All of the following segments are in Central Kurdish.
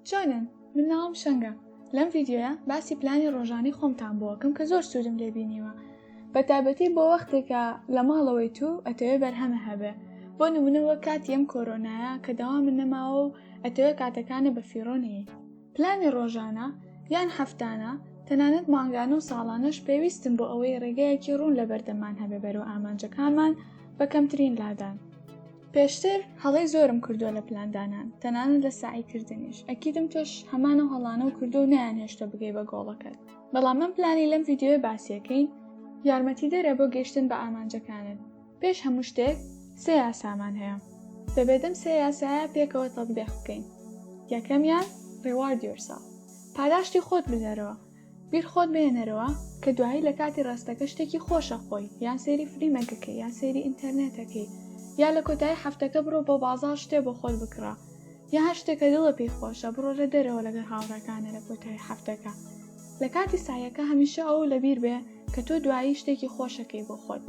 چۆنن من ناوم شەنگە لەم ڤیددیوە باسی پلانی ڕۆژانی خۆمتان بۆکم کە زۆر سوودم لێبینیوە بە تابەتی بۆ وەختێکە لە ماڵەوەی تو ئەتەوێ بەرهەمە هەبێ بۆ نمونەوە کاتی ئەم کۆرۆنایە کە داوا من نەماوە و ئەتەوێ کاتەکانە بە فیڕۆنەیە پلانی ڕۆژانە یان هەفتانە تەنانەت مانگانە و ساڵانەش پێویستم بۆ ئەوەی ڕێگەیەکی ڕوون لە بەردەمان هەبێ بەرەو ئامانجەکانمان بە کەمترین لادان پێشتر هەڵەی زۆرم کردووە لە پلاندانان تەنانەت لە سعی کردنیش ئەکیدم تۆش هەمانە هەڵانە و کردو نیان هێشتە بگەی بە گۆڵەکەت بەڵام من پلانی لەم یددیوێ باسیەکەی یارمەتی دەرە بۆ گەشتن بە ئامانجەکانت پێش هەموو شتێک سێ یاسامان هەیە دەبێتم سێ یاسایە پێکەوە تەبدێخ بکەین یەکەمیان ڕێوارد یۆرسا پاداشتی خۆت بدەرەوە بیر خۆت بهێنەرەوە کە دوایی لە کاتی ڕاستەکە شتێکی خۆشە خۆی یان سەیری فلیمەکەکەی یان سەیری ئینتەرنێتەکەی یا لە کۆتایی هەفتەکە بڕۆ بۆ بازاڕ شتێ بۆ خۆت بکڕە یا هەر شتێکە دڵە پێی خۆشە بڕۆرە دەرەوە لەگەر هاوڕەکانە لە کۆتایی هەفتەکە لە کاتی سایەکە هەمیشە ئەو لەبیر بێ کە تۆ دوایی شتێکی خۆشەکەی بۆ خۆت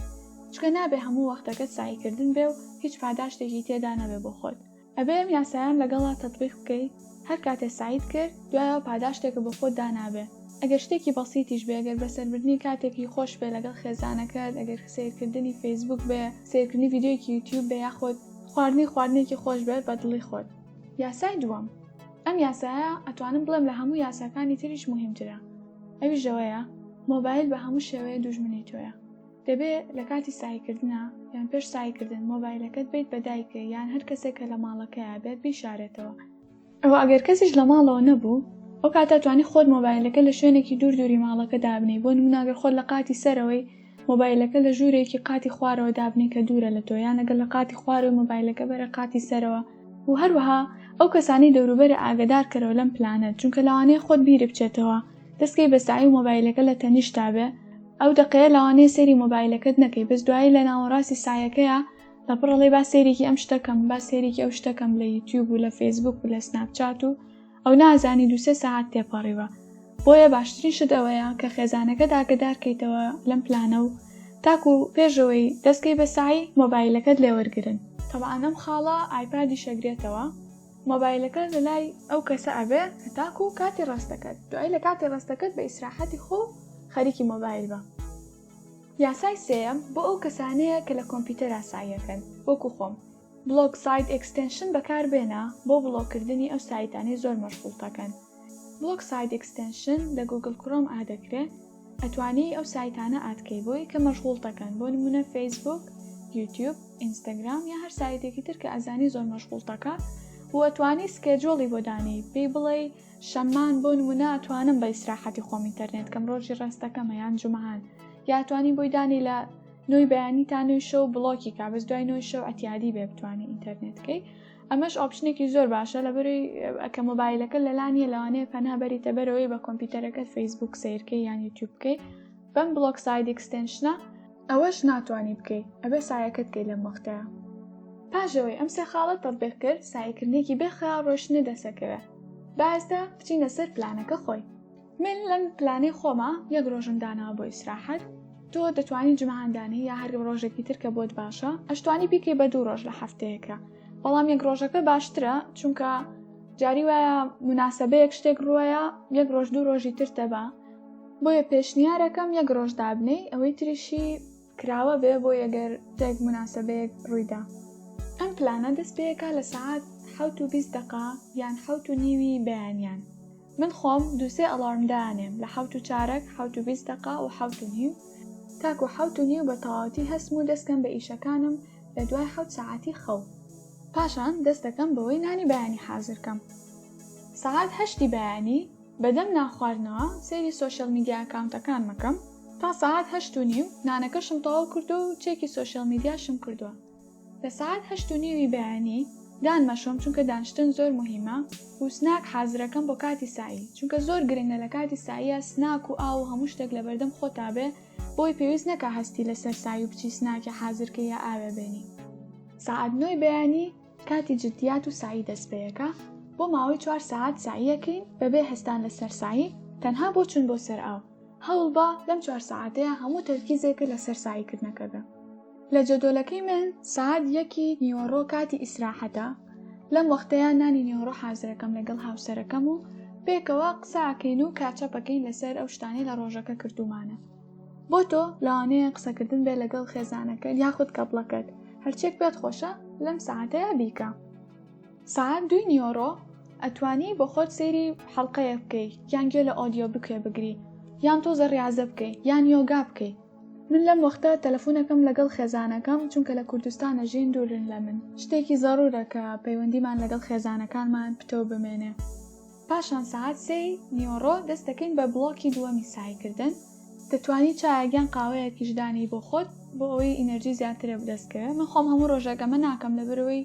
چکە نابێ هەموو وەختەکەت سایکردن بێ و هیچ پاداشتێکی تێدا نەبێ بۆ خۆت ئەبێ ئەم یاسایەم لەگەڵا تەتبیق بکەی هەر کاتێ سەعیت کرد دوایەوە پاداشتێکە بۆ خۆت دانابێ ئەگەر شتێکی بەسیتیش بێ گەر بەسەربردنی کاتێکی خۆش بێ لەگەڵ خێزانەکەت ئەگەر سەیرکردنی فەیسبووک بێ سەیرکردنی ڤیدیۆیەکی یوتیوب بێ یاخۆد خواردنی خواردنێکی خۆش بێ بە دڵی خۆت. یاسای دووەم ئەم یاسایە ئەتوانم بڵێم لە هەموو یاساکانی تریش موهیمترە ئەویش ئەوەیە مۆبایل بە هەموو شێوەیە دوژمنی تۆیە. دەبێ لە کاتی سەعیکردنا یان پێش سەعیکردن مۆبایلەکەت بیت بە دایکە یان هەر کەسێک کە لە ماڵەکەیا بێت بیشارێتەوە ئەوە ئەگەر کەسیش لە ماڵەوە نەبوو ئەو کاتە توانی خۆت مۆبایلەکە لە شوێنێکی دوور دووری ماڵەکە دابنی بۆ نموناگەر خۆت لە قاتی سەرەوەی مۆبایلەکە لە ژوورێکی قاتی خوارەوە دابنی کە دوورە لە تۆ یان لەگەر لە قاتی خوارەوەی مۆبایلەکە بەرە قاتی سەرەوە و هەروەها ئەو کەسانی دەوروبەرە ئاگدارکەرەوە لەم پلانە چونکە لەوانەیە خۆت بیربچێتەوە دەستکەی بە سەعی و مۆبایلەکە لە تەنیشتتا بێ ئەو دەقەیە لەوانەیە سەیری مۆبایلەکەت نەکەی بەس دوایی لە ناوەڕاستی سەعیەکەیا لە پڕ ئەڵێی با سەیرێکی ئەم شتەکەم با سەیرێکی ئەو شتەکەم لە یوتیوب و لە فەیسبوک و لە سناپچات و ئەو نازانی دوو سێ سەعات تێپەڕیوە بۆیە باشترین شت ئەوەیە کە خێزانەکەت ئاگدار کەیتەوە لەم پلانە و تاکو پێشەوەی دەستکەی بە سەعی مۆبایلەکەت لێوەرگرن تەبعەن ئەم خاڵە ئایپادیش ئەگرێتەوە. مۆبایلەکە لە لای ئەو کەسە ئەبێ هەتاکو کاتی ڕەستەکەت دوای لە کاتی ڕەستەکەت بە ئیسراحەتی خۆ خەریکی مۆبایل بە. یاسای سێیەم بۆ ئەو کەسانەیە کە لە کۆمپیوتەر ئاساییەکەن وەکو خۆم. بڵۆک سایت ئێکستێنشن بەکار بێنە بۆ بڵۆک کردنی ئەو سایتانەی زۆر مەشغوڵتەکەن. بڵۆک سایت ئێکستێنشن لە گوگڵ کرۆم ئادەکرێ ئەتوانی ئەو سایتانە ئاد کەی بۆ ی کە مەشغوڵ تەکەن بۆ نمونە فەیسبوک یوتیوب ئینستاگرام یا هەر سایتێکی تر کە ئەزانی زۆر مەشغوڵ تەکا و ئەتوانی سکێجۆڵی بۆ دانی پێی بڵێی شەمان بۆ نمونە ئەتوانم بە ئیسراحەتی خۆم ئینتەرنێت کەم ڕۆژی ڕاستەکەمە یان جمەهان یا توانی بۆی دانی لە نوی بەیانی تا نوی شەو بڵۆکی کا بەس دوای نوی شەو ئەتیادی بێ بتوانی ئینتەرنێتکەی ئەمەش ئۆپشنێکی زۆر باشە لە بەری ئەکە مۆبایلەکە لەلانیە لەوانەیە پەنا بەریتە بەرەوەی بە کۆمپیوتەرەکەت فەیسبوک سیرکەی یان یوتیوب بکەیت بەم بلۆک ساید ئەکسستنشنە ئەوەش ناتوانانی بکەیت ئەبێ سایەکەت کەی لەم وەختەیە پاژەوەی ئەم سێ خاڵە تەبێک کرد سایکردنێکی بێخەیاڵ ڕۆشنە دەسەکەوێت بازدا بچینە سەر پلانەکە خۆی من لەم پلانەی خۆمە یەک ڕۆژم داناوە بۆ ئیسراحەت تۆ دەتوانی جمەهان دانێ یا هەر ڕۆژێکی تر کە بۆت باشە ئەشتوانی بیکەی بە دوو ڕۆژ لە هەفتەیەکە بەڵام یەک ڕۆژەکە باشترە چونکە جاری وایە مناسبەیەک شتێک ڕوایە یەک ڕۆژ دوو ڕۆژی تر دەبا بۆیە پێشنیارەکەم یەک ڕۆژ دابنەی ئەوەی تریشی کراوە بێ بۆ یەگەر تێک مناسبەیەک ڕوویدا ئەم پلانە دەست پێەکە لە سعات حوت و بیست دقا یان حوت و نیوی بەیانیان من خۆم دووسێ ئەڵارمدانێم لە حوت و چارەک حوت و بیست دقا و حوت و نیو تاک و حوت و نیو بە تەواوەتی هەستم و دەستکەم بە ئیشەکانم لە دوای حوت سعاتی خەو پاشان دەستەکەم بەوەی نانی بەیانی حازرکەم سعات هەشتی بەیانی بەدەم نانخواردنەوە سەیری سۆشیال میدیا ئەکاونتەکانم ئەکەم تا سەعات هەشت و نیو نانەکەشم تەواو کردووە و چێکی سۆشیال میدیاشم کردووە لە سەعات هەشت و نیوی بەیانی دان مەشۆم چونکە دانشتن زۆر مهمە و سناک حازرەکەم بۆ کاتی سایی چونکە زۆر گرنگە لە کاتی ساییە سناک و ئاو و هەموو شتێک لەبەردەم خۆتا بێ بۆی پێویست نەکا هەستی لەسەر سای و بچی سناکی حازرکەی یا ئاوێ بێنی سەعات نۆی بەیانی کاتی جدیات و سەعی دەست پێیەکە، بۆ ماوەی چوار سەعات سەعیەکەین بەبێ هەستان لەسەر سەعی تەنها بۆ چون بۆ سەر ئاو، هەوڵبە لەم چوار سەعاتەیا هەموو تەرکیزێکت لەسەر سەعی کردنەکە بێ. لە جەدۆلەکەی من سەعات یەکی نیوەڕۆ کاتی ئیسراحەتە، لەم وەختەیا نانی نیوەڕۆ حازرەکەم لەگەڵ هاوسەرەکەم و پێکەوە قسە ئەکەین و کاتچەپ ئەکەین لەسەر ئەو شتانەی لە ڕۆژەکە کردوومانە. بۆ تۆ لەوانەیە قسەکردن بێ لەگەڵ خێزانەکەت یاخود کەپڵەکەت هەرچێک پێت خۆشە لەم ساعتەیە بیکە ساعت دوی نیۆڕۆ ئەتوانی بۆ خۆت سەیری حەڵلقەیە بکەی یان گوێ لە ئۆدیۆ بکوێ بگری یان تۆ زەڕیازە بکەی یان یۆگا بکەی من لەم وەختە تەلەفۆنەکەم لەگەڵ خێزانەکەم چونکە لە کوردستانە ژین دوورن لە من شتێکی زەڕورە کە پەیوەندیمان لەگەڵ خێزانەکانمان پتەو بمێنێ. پاشان سەعات سێی نیوەڕۆ دەست دەکەین بە بڵۆکی دووەمی سەعیکردن. دەتوانی چایەک یان قاوەیەکیش دانێی بۆ خۆت بۆ ئەوەی ئینەرجی زیاترە بدەستکەوێ. من خۆم هەموو ڕۆژێک ئەمە ناکەم لەبەرەوەی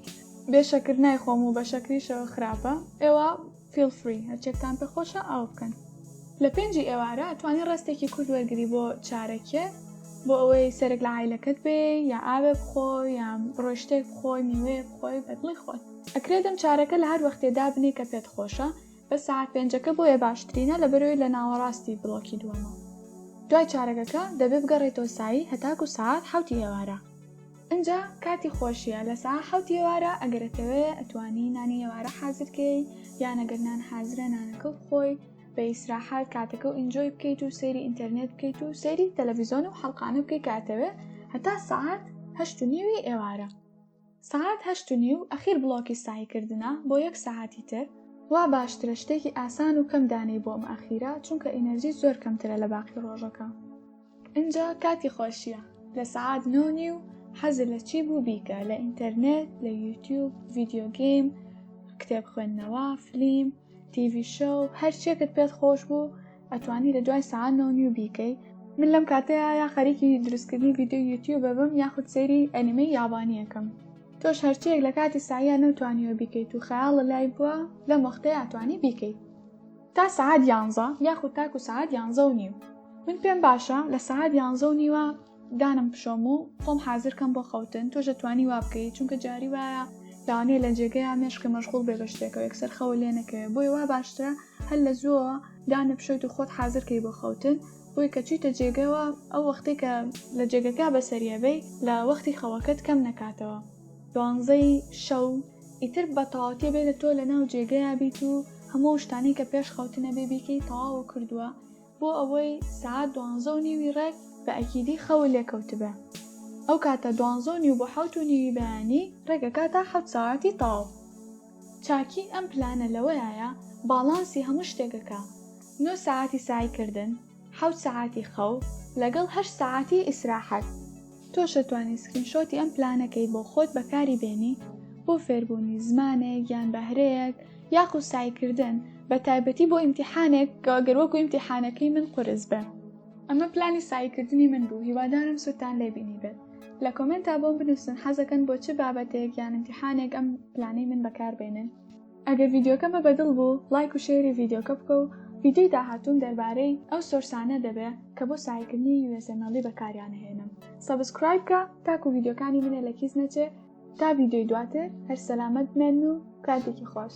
بێ شەکر نایخۆم و بە شەکریشەوە خراپە. ئێوە فیڵ فری هەرچێکتان پێ خۆشە ئەوە بکەن. لە پێنجی ئێوارە ئەتوانی ڕێستێکی کورت وەرگری بۆ چارەکێ بۆ ئەوەی سەرێک لە عایلەکەت بێی یا ئاوێ بخۆی یا بڕۆی شتێک بخۆی، میوەیەک بخۆی بە دڵی خۆت. ئەکرێ دەم چارەکە لە هەر وەختێ دابنێ کە پێت خۆشە بەس سەعات پێنجەکە بۆیە باشترینە لەبەرئەوەی لە ناوەڕاستی بڵۆکی دووەمە دوای چارەگەکە دەبێ بگەڕێیتەوە سەعی هەتاکو سەعات حەوتی ئێوارە ئنجا کاتی خۆشیە لە سەعات حەوتی ئێوارە ئەگەر ئەتەوێ ئەتوانی نانی ئێوارە حازر کەی یان ئەگەر نان حازرە نانەکە بخۆی بە ئیسراحەت کاتەکە و ئینجۆی بکەیت و سەیری ئینتەرنێت بکەیت و سەیری تەلەڤیزۆن و حەڵقانە بکەی کاتەوێ هەتا سەعات هەشت و نیوی ئێوارە سەعات هەشت و نیو ئەخیر بڵۆکی سەعی کردنە بۆ یەک سەعاتی تر؟ وا باشترە شتێکی ئاسان و کەم دانێی بۆ ئەم ئەخیرە چونکە ئینەرجیت زۆر کەمترە لە باقی ڕۆژەکە. ئینجا کاتی خۆشیە لە سەعات نۆ نیو حەزت لە چی بوو بیکە لە ئینتەرنێت، لە یوتیوب، ڤیدیۆ گەیم، کتێب خوێندنەوە، فلیم، تیڤی شۆو هەر چیەکت پێت خۆش بوو ئەتوانی لە دوای سعات نۆ نیو بیکەی من لەم کاتەیە یا خەریکی دروستکردنی ڤیددیو یوتیوب ببم یاخود سەیری ئەنیمەی یابانیەکەم تۆش هەرچیەک لە کاتی سایە نەوتوانیوە بیکەیت و خەیاڵە لای بووە لەم وەختەیە ئەتوانی بیکەیت تا سعات یانزە یاخود تاکو سعات یانزە و نیو من پێم باشە لە سعات یانزە و نیوە دانم پشۆم و خۆم حازر کەم بۆ خەوتن تۆش دەتوانی وا بکەیت چونکە جاری وایە لەوانەیە لە جێگەیان مێشکە مەشغول بێ بە شتێکەوە یەکسەر خەوە لێ نەکەوێت بۆی وا باشترە هەر لە زووەوە دانە پشۆیت و خۆت حازرکەی بۆ خەوتن بۆی کە چیتە جێگەوە ئەو وەختێک کە لە جێگەکە بەسەریەبەی لە وەختی خەوەکەت کەم نەکاتەوە دوانزەی شەو ئیتر بە تەواوتێ بێ لە تۆ لە ناو جێگەیە بیت و هەموو شتانی کە پێش خەوتنە بێ بیکەی تەواو کردووە بۆ ئەوەی سەعات دوانزە و نیوی ڕێک بە ئەکیدی خەوە لێکەوتبێ ئەو کاتە دوانزە و نیو بۆ حەوت و نیوی بەیانی ڕێگەکە تا حەوت سەعاتی تەواو چاکی ئەم پلانە لەوەیە باڵانسی هەموو شتێکەکە نۆ سەعاتی سەعیکردن حەوت سەعاتی خەو لەگەڵ هەشت سەعاتی ئیسراحەت تۆش ئەتوانی سکرین شۆتی ئەم پلانەکەی بۆ خۆت بەکاری بێنی بۆ فێربوونی زمانێک یان بەهرەیەک یاخود سەعیکردن بە تایبەتی بۆ ئیمتیحانێک کە گەر وەکو ئیمتیحانەکەی من قورس بێ. ئەمە پلانی سەعیکردنی من بوو هیوادارم سوودتان لێ بینیبێت. لە کۆمێنتا بۆم بنووسن حەزەکەن بۆ چ بابەتێک یان ئیمتیحانێک ئەم پلانەی من بەکار بێنن. ئەگەر ڤیدیۆکەمە بەدڵ بوو ڵایک و شێری ڤیدیۆکە بکە و ڤیدیۆی داهاتووم دەربارەی ئەو سۆرسانە دەبێ کە بۆ ساینکردنی usmle بەکاریان ئەهێنم سەبسکرایب کە تاکو ڤیدیۆکانی منە لە کیس نەچێ تا ڤیدیۆی دواتر هەر سەلامەت بمێن و کاتێکی خۆش.